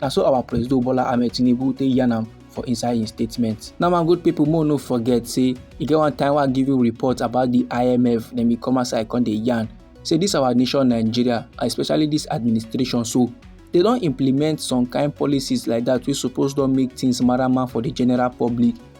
na so our president bola ahmed tinubu take yarn am for inside im statement now my good pipo more no forget say e get one time wey i give you report about di imf dem bin come outside come dey yarn say dis our nation nigeria especially dis administration so dey don implement some kind policies like dat wey suppose don make tins marama for di general public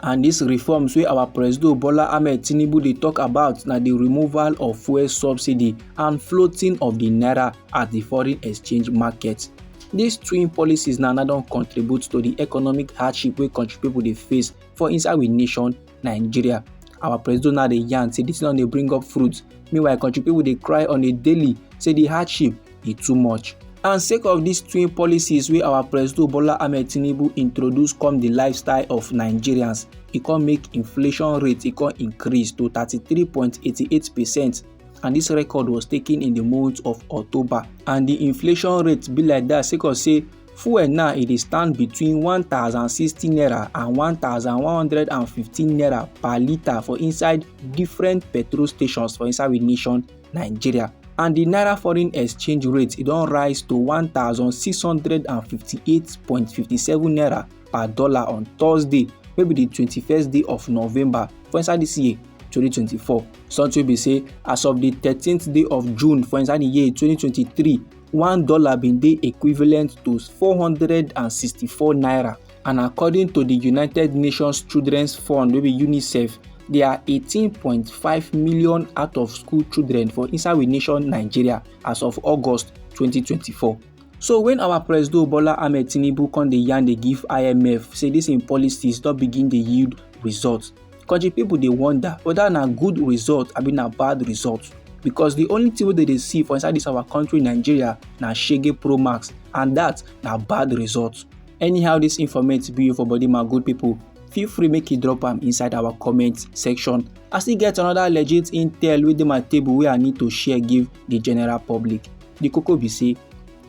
And dis reforms wey our Presido Bola Ahmed Tinubu dey talk about na di removal of fuel subsidy and floating of di naira at di foreign exchange market. Dis twin policies na na don contribute to di economic hardship wey country pipo dey face for inside we nation Nigeria. Our Presido now dey yarn say dis tin don dey bring up fruit meanwhile country pipo dey cry on a daily say di hardship e too much and sake of dis twin policies wey our presido bola ahmed tinubu introduce come di lifestyle of nigerians e come make inflation rate e come increase to 33.88 percent and dis record was taken in di month of october and di inflation rate be like dat sake of say fuel now e dey stand between 1060 naira and 1115 naira per litre for inside different petrol stations for inside we nation nigeria and di naira foreign exchange rate e don rise to 1658.57 naira per dollar on thursday wey be di 21st day of november for inside dis year 2024 something be say as of di 13th day of june for inside di year 2023 one dollar bin dey equivalent to 464 naira and according to di united nations children's fund wey be unicef there are 18.5 million out of school children for inside we nation nigeria as of august 2024 so when our president bola ahmed tinubu come dey yarn dey give imf say dis im policies don begin dey yield results country people dey wonder whether na good result abi na bad result because the only thing wey dem dey see for inside this our country nigeria na shege pro max and that na bad result. anyhow this informate be for body my good people feel free make you drop am inside our comment section i still get another legit intel wey dey my table wey i need to share give the general public the koko be say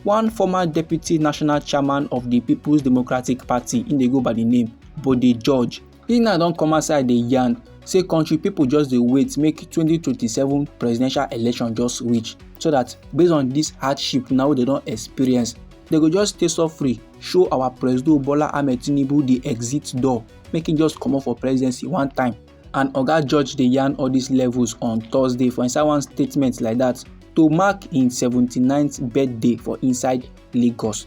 one former deputy national chairman of the peoples democratic party im dey go by the name bode george He now don come outside dey yarn say country people just dey wait make 2027 presidential election just reach so that based on this hardship now wey dem don experience they go just stay so free show our president bola ahmed tinubu the exit door make him just comot for presidency one time and oga george dey yarn all these levels on thursday for inside one statement like that to mark im 79th birthday for inside lagos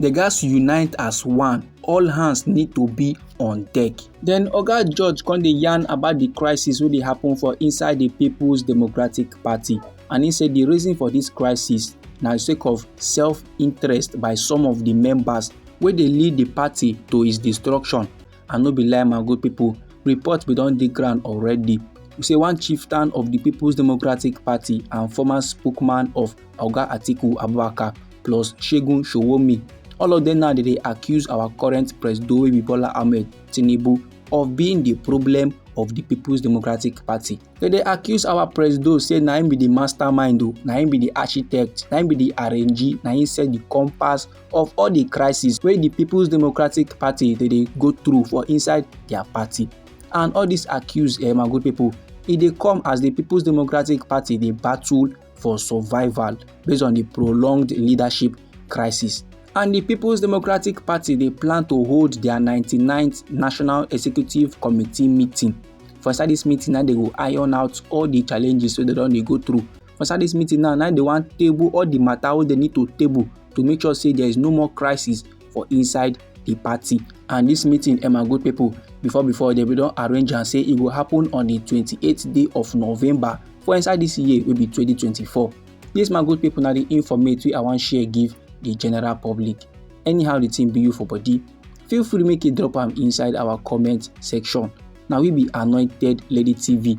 They gatz unite as one. All hands need to be on deck. Then Oga George come dey yarn about the crisis wey dey happen for inside the People's Democratic Party and he say the reason for this crisis na sake of self-interest by some of the members wey dey lead the party to its destruction. and no be lie my good people report bin don dey ground already say one chieftain of the people's democratic party and former spokesman of oga atiku abubakar plus segun showomi all of them now dey accuse our current president bola ahmed tinubu of being the problem of the people's democratic party They dey accuse our president say na him be the mastermind o na him be the architect na him be the arrangee na him set the compass of all the crisis wey the people's democratic party dey dey go through for inside their party and all this accuse eh, my good people e dey come as the people's democratic party dey battle for survival based on the prolonged leadership crisis and the people's democratic party dey plan to hold their 99th national executive committee meeting for inside this meeting na dey go iron out all the challenges wey dem don dey go through inside this meeting now now they wan table all the matter wey they need to table to make sure say there is no more crisis for inside the party and this meeting emma good people before before they bin don arrange am say e go happen on the twenty eight day of november for inside this year wey be twenty twenty four. This my good people na the informate wey i wan share give the general public anyhow the thing be you for body feel free make you drop am inside our comment section na we be anointed lady tv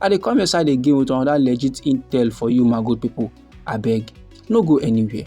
i dey come your side again with another legit intel for you my good people abeg no go anywhere.